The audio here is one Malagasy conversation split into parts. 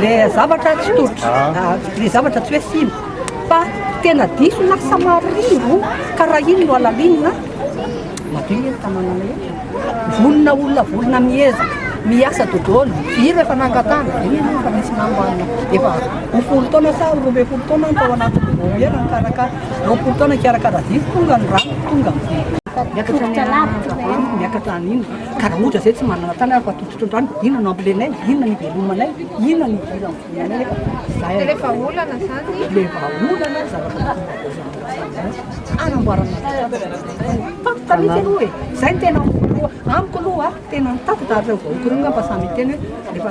Le zavatra tsy totro, le zavatra tsy hoe sino fa tena diso na samarivo ka raha iny no alalinina madio ny tanàna rehetra. Vonona olona vonona mieza, miasa dodolo, iro efa nangatana, iny no efa misy nambanina. Efa ho folo taona sa roa ambin'ny folo taona tao anaty vomiera nikarakara, roapolo taona nikarakara ziry tonga ny rano tonga ny vomiera. Miakatra ny miakatra an'iny. Ka raha ohatra izay tsy manana tany ary efa tototry ny rano, inona no ampilenay, inona no ivelomanay, inona no idiran'ny volanay eto? Izay aloha. Dia ilay vahaolana izany. Ilay vahaolana no zavatra mitombina avy amin'izany resaka izany. Hanamboarana toerana. Mitady tanety aloha e. Izay no tena voalohany. Amiko aloha tena mitady tanety. Raha ireo vahoaka ireo angamba samy hiteny hoe rehefa.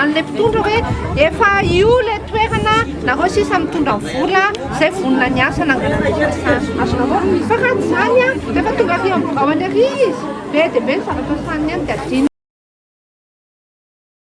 an'ilay mpitondra hoe efa io ilay toerana nareo sisa mitondra ny vola izay vonona ny asa nangalana ny fiasana azonao vao fa raha izany a rehefa tonga aty amin'ny birao any ary izy be dia be ny zavatra sahaniny any dia adino